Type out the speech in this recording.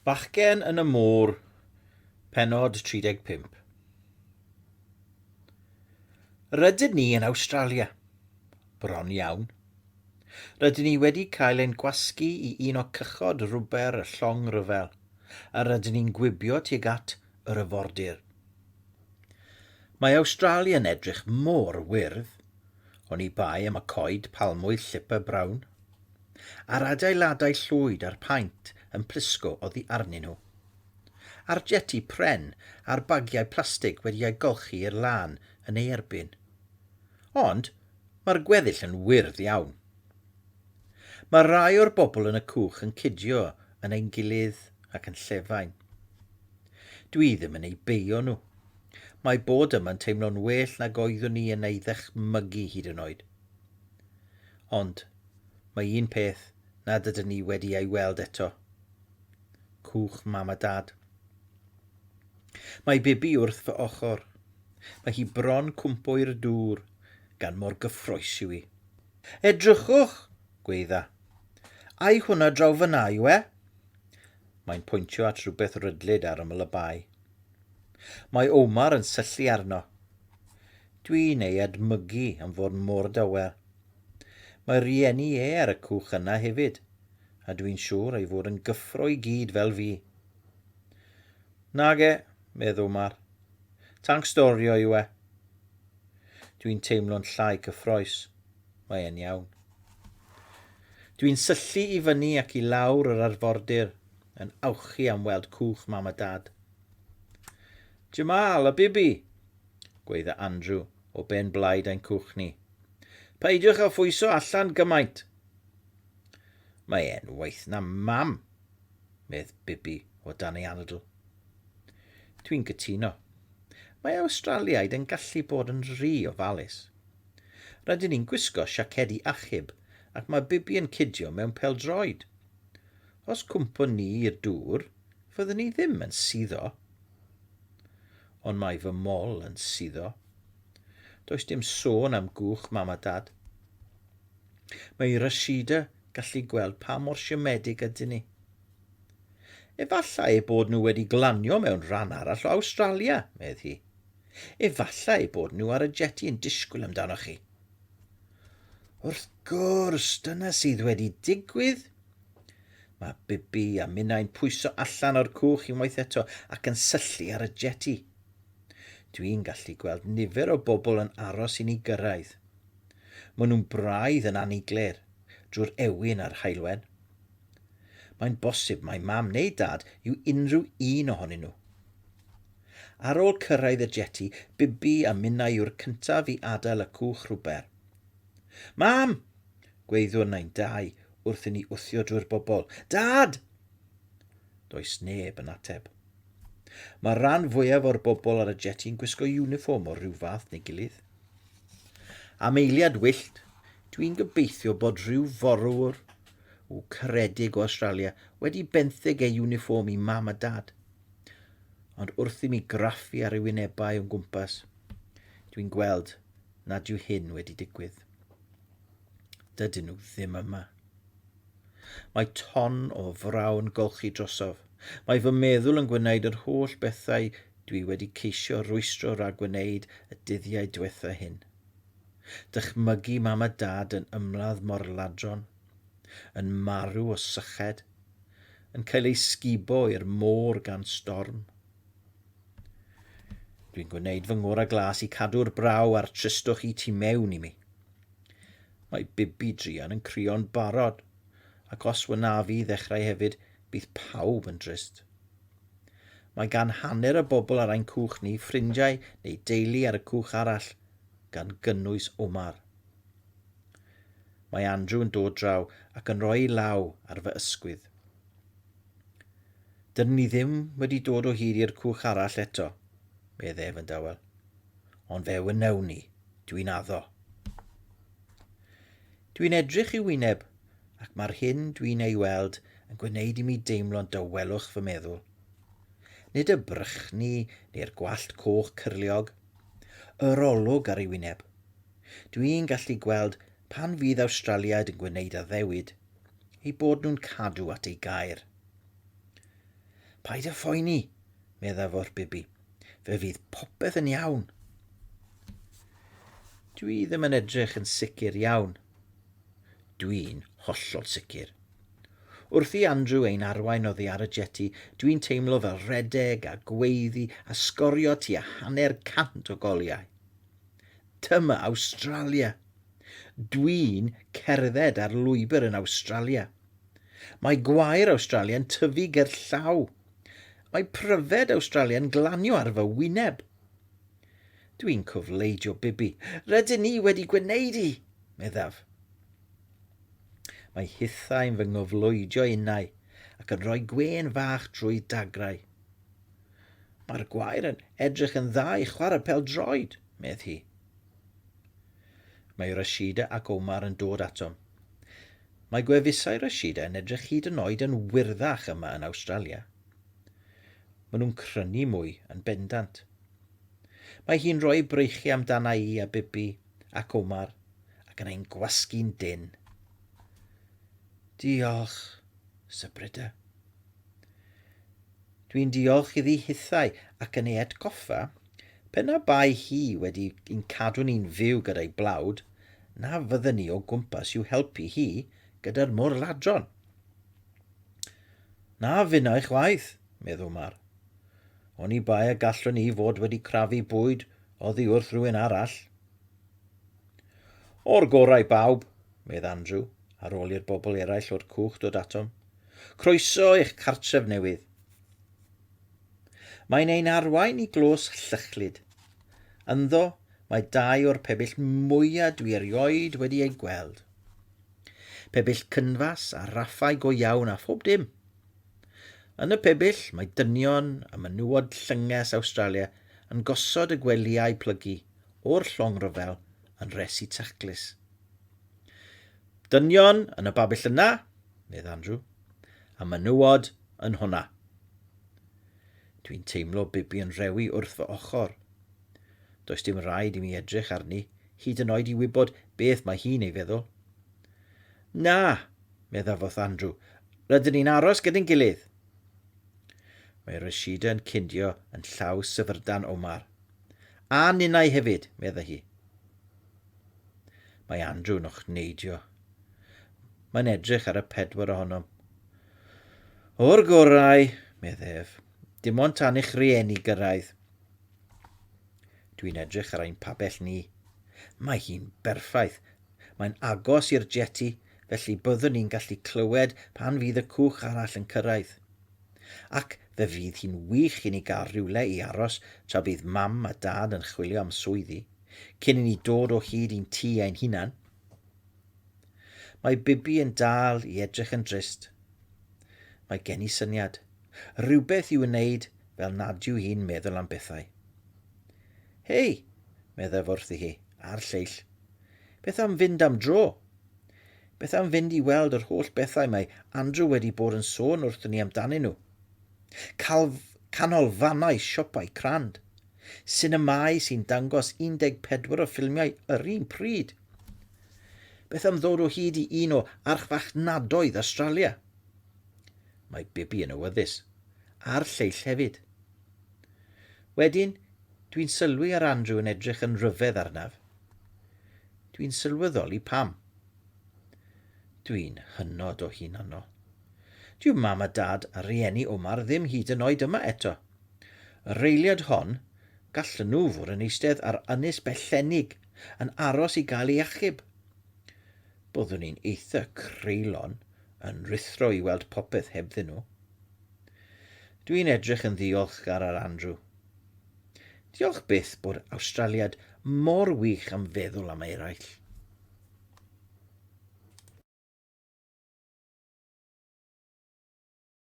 Bachgen yn y Môr, pennod 35. Rydyn ni yn Awstralia. Bron iawn. Rydyn ni wedi cael ein gwasgu i un o cychod rwber y llong ryfel, a rydyn ni'n gwibio tuag at yr yfordir. Mae Awstralia'n edrych mor wyrdd, oni bai am y coed palmwydd llipa brown. a'r adeiladau llwyd a'r paent yn plisgo oddi arnyn nhw. A'r jeti pren a'r bagiau plastig wedi eu golchi i'r lân yn ei erbyn. Ond mae'r gweddill yn wyrdd iawn. Mae rhai o'r bobl yn y cwch yn cydio yn ein gilydd ac yn llefain. Dwi ddim yn eu beio nhw. Mae bod yma'n teimlo'n well nag oeddwn i yn ei ddychmygu hyd yn oed. Ond, mae un peth nad ydyn ni wedi ei weld eto. Cwch mam a dad. Mae Bibi wrth fy ochr. Mae hi bron cwmpo i'r dŵr, gan mor gyffroes yw hi. Edrychwch! gweidda. Ai hwnna draw fan'na yw e? Mae'n pwyntio at rhywbeth rydlyd ar ymyl y bae. Mae Omar yn syllu arno. Dwi'n ei edmygu am fod mor dawel. Mae rhieni e ar y cwch yna hefyd, a dwi'n siŵr ei fod yn gyffro i gyd fel fi. Nage, medd Omar. Tanc storio yw e. Dwi'n teimlo'n llai cyffroes. Mae e'n iawn. Dwi'n syllu i fyny ac i lawr yr arfordir yn awchu am weld cwch Mam a Dad. Jamal a Bibi! gweidda Andrew o ben blaid ein cwch ni. Peidiwch â phwyso allan gymaint! Mae e'n waeth na mam, medd Bibi o dan ei anadl. Dwi'n cytuno. Mae Awstraliaid yn gallu bod yn rhy ofalus. Rydyn ni'n gwisgo siacedi achub ac mae Bibi yn cidio mewn peldroed. Os cwmpo ni i'r dŵr, fyddwn ni ddim yn suddo. ond mae fy mol yn suddo. Does dim sôn am gwch mam a dad. Mae i Rashida gallu gweld pa mor siomedig ydyn ni. Efallai eu bod nhw wedi glanio mewn rhan arall o Awstralia, medd hi. Efallai eu bod nhw ar y jeti yn disgwyl amdanoch chi. Wrth gwrs, dyna sydd wedi digwydd, Mae Bibi a minnau'n pwyso allan o'r cwch unwaith eto ac yn syllu ar y jeti. Dwi'n gallu gweld nifer o bobl yn aros i ni gyrraedd. Maen nhw'n braidd yn aniglir drwy'r ewyn a'r haelwen. Mae'n bosib mai mam neu dad yw unrhyw un ohonyn nhw. Ar ôl cyrraedd y jeti, Bibi a minnau yw'r cyntaf i adael y cwch rhwber. Mam! Gweithiwr nain Dai wrth i ni wthio drwy'r bobl. Dad! Does neb yn ateb. Mae'r rhan fwyaf o'r bobl ar y jeti yn gwisgo uniform o'r rhyw fath neu gilydd. Am eiliad wyllt, dwi'n gobeithio bod rhyw forwr w caredig o Australia wedi benthyg ei uniform i mam a dad. Ond wrth i mi graffu ar ei wynebau o'n gwmpas, dwi'n gweld nad yw hyn wedi digwydd. Dydyn nhw ddim yma. Mae ton o frawn golchi drosof. Mae fy meddwl yn gwneud yr holl bethau dwi wedi ceisio rwystro rhag gwneud y dyddiau diwetha hyn. Dychmygu mam a dad yn ymladd mor ladron, yn marw o syched, yn cael eu sgubo i'r môr gan storm, Dwi'n gwneud fy ngwr a glas i cadw'r braw a'r tristwch i tu mewn i mi. Mae bibi druan yn crio'n barod, ac os wynaf i ddechrau hefyd, bydd pawb yn drist. Mae gan hanner y bobl ar ein cwch ni ffrindiau neu deulu ar y cwch arall, gan gynnwys Omar. Mae Andrew yn dod draw ac yn rhoi law ar fy ysgwydd. Dyn ni ddim wedi dod o hyd i'r cwch arall eto, medd ef yn dawel. Ond fe wnewn ni, dwi'n addo. Dwi'n edrych i wyneb, ac mae'r hyn dwi'n ei weld yn gwneud i mi deimlo'n dawelwch fy meddwl. Nid y brychni neu'r gwallt coch cyrliog, yr olwg ar ei wyneb. Dwi'n gallu gweld pan fydd Awstraliaid yn gwneud addewid ei bod nhw'n cadw at ei gair. Paid â phoeni, meddai fo'r bibi. Fe fydd popeth yn iawn. Dwi ddim yn edrych yn sicr iawn. Dwi'n hollol sicr. Wrth i Andrew ein arwain oddi ar y jeti, dwi'n teimlo fel redeg a gweiddi a sgorio tua hanner cant o goliau. Dyma Awstralia, Dwi'n cerdded ar lwybr yn Awstralia. Mae gwair Awstralia'n tyfu ger llaw. Mae pryfed Awstralia'n glanio ar fy wyneb. Dwi'n cofleidio Bibi. Rydyn ni wedi gwneud i! meddaf. Mae hithau'n fy ngofleidio innau ac yn rhoi gwên fach drwy dagrau. Mae'r gwair yn edrych yn dda i chwarae pel-droed, medd hi. Mae Rashida ac Omar yn dod atom. Mae gwefusau Rashida yn edrych hyd yn oed yn wyrddach yma yn Awstralia. Maen nhw'n crynu mwy yn bendant. Mae hi'n rhoi ei breichiau amdana i a Bibi ac Omar ac yn ein gwasgu'n dyn. Diolch, Sybrida. Dwi'n diolch iddi hithau ac yn ei atgoffa Pe na bai hi wedi i'n cadw ni'n fyw gyda'i blawd, na fydden ni o gwmpas i'w helpu hi gyda'r mor ladron. Na finnau chwaith, meddw Mar. Oni bai y gallwn ni fod wedi crafu bwyd oddi wrth rhywun arall. O'r gorau bawb, medd Andrew, ar ôl i'r bobl eraill o'r cwch dod atom. Croeso i'ch cartref newydd. Mae'n ein arwain i glws llychlyd. Ynddo, mae dau o'r pebyll mwyaf dwi erioed wedi eu gweld. Pebyll cynfas a raffau go iawn a phob dim. Yn y pebyll, mae dynion y menywod llynges Awstralia yn gosod y gwelyau plygu o'r llong rhyfel yn res i taclus. Dynion yn y babyll yna, medd Andrew. A menywod yn hwnna. Dwi'n teimlo Bibi yn rewi wrth fy ochr. Does dim rhaid i mi edrych arni, hyd yn oed i wybod beth mae hi'n ei feddwl. Na, medda foth Andrew, rydyn ni'n aros gyda'n gilydd. Mae Rashida yn cyndio yn llaw syfrdan Omar. A ninnau hefyd, medda hi. Mae Andrew'n ochneidio Mae'n edrych ar y pedwar ohonom. O'r gorau, medd ef, dim ond tan eich rieni gyrraedd. Dwi'n edrych ar ein pabell ni. Mae hi'n berffaith. Mae'n agos i'r jeti, felly byddwn ni'n gallu clywed pan fydd y cwch arall yn cyrraedd. Ac fe fydd hi'n wych i ni gael rhywle i aros tra bydd mam a dad yn chwilio am swyddi, cyn i ni dod o hyd i'n tŷ ein hunan. Mae Bibi yn dal i edrych yn drist. Mae gen i syniad. Rhywbeth i'w wneud fel nad yw hi'n meddwl am bethau. Hei, meddaf wrthi hi, a'r lleill. Beth am fynd am dro? Beth am fynd i weld yr holl bethau mae Andrew wedi bod yn sôn wrthyn ni amdanyn nhw? Calf, canolfannau siopau crand, sinemâu sy'n dangos 14 o ffilmiau yr un pryd. Beth am ddod o hyd i un o archfarchnadoedd Australia? Mae Bibi yn awyddus, a'r lleill hefyd. Wedyn, dwi'n sylwi ar Andrew yn edrych yn rhyfedd arnaf. Dwi'n sylweddoli pam. Dwi'n hynod o hunanol. Dyw mam a dad a rieni Omar ddim hyd yn oed yma eto. Y reiliad hon, gallen nhw fod yn eistedd ar ynys bellennig yn aros i gael ei achub. Byddwn i'n eitha creulon yn rithro i weld popeth hebddyn nhw. Dwi'n edrych yn ddiolchgar ar Andrew. Diolch byth bod Awstraliad mor wych am feddwl am eraill.